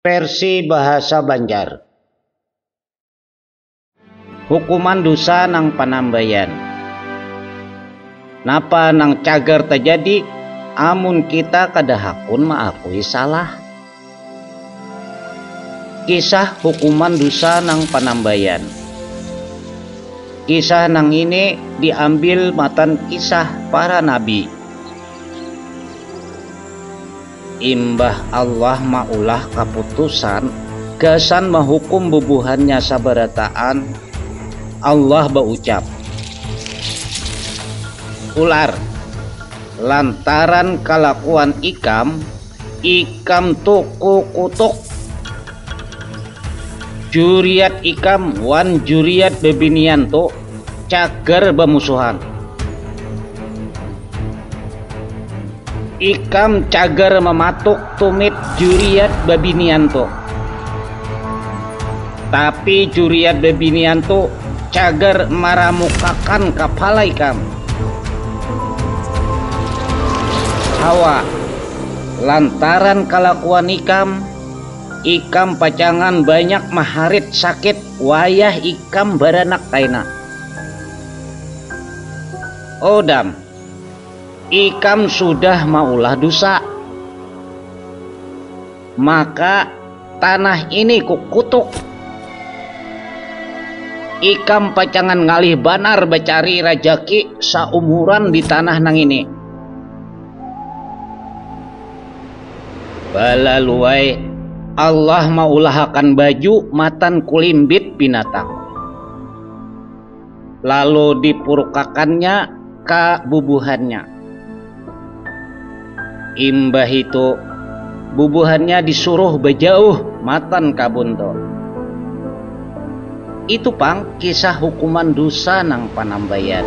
Versi bahasa banjar. Hukuman dusa nang panambaian. Napa nang cagar tajadi amun kita kada hakun maakui salah? Kisah hukuman dusa nang panambaian. Kisah nang ini diambil matan kisah para nabi. Imbah Allah maulah kaputusan gasan mahukum bubuhannya sabarataan, Allah baucap, Ular, lantaran kalakuan ikam, ikam tu kukutuk. Juriat ikam wan juriat bibinian tu cagar bamusuhan. Ikam cagar mematuk tumit juriat babinian tu. Tapi juriat babinian tu cagar maramukakan kapala ikam. Hawa, lantaran kalakuan ikam, ikam pacangan banyak maharit sakit wayah ikam baranak kaina. Odam. Ikam sudah maulah dusa, maka tanah ini kukutuk. Ikam pacangan ngalih banar bacari rajaki saumuran di tanah nang ini. Balaluai, Allah maulahakan baju matan kulimbit binatang. Lalu dipurukakannya ka bubuhannya. Imbahitu bubuhannya disuruh bajauh matan kabun tu. Itu pang kisah hukuman dusa nang panambayan.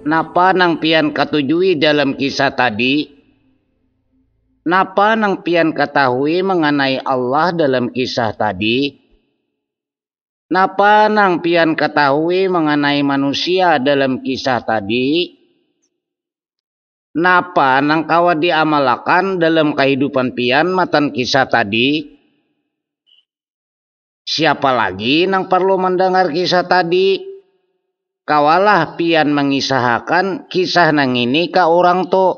Napa nang pian katujui dalam kisah tadi? Napa nang pian katahui manganai Allah dalam kisah tadi? Napa nang pian ketahui mengenai manusia dalam kisah tadi? Napa nang kawa diamalakan dalam kehidupan pian matan kisah tadi? Siapa lagi nang perlu mendengar kisah tadi? Kawalah pian mengisahakan kisah nangini ka urang tu.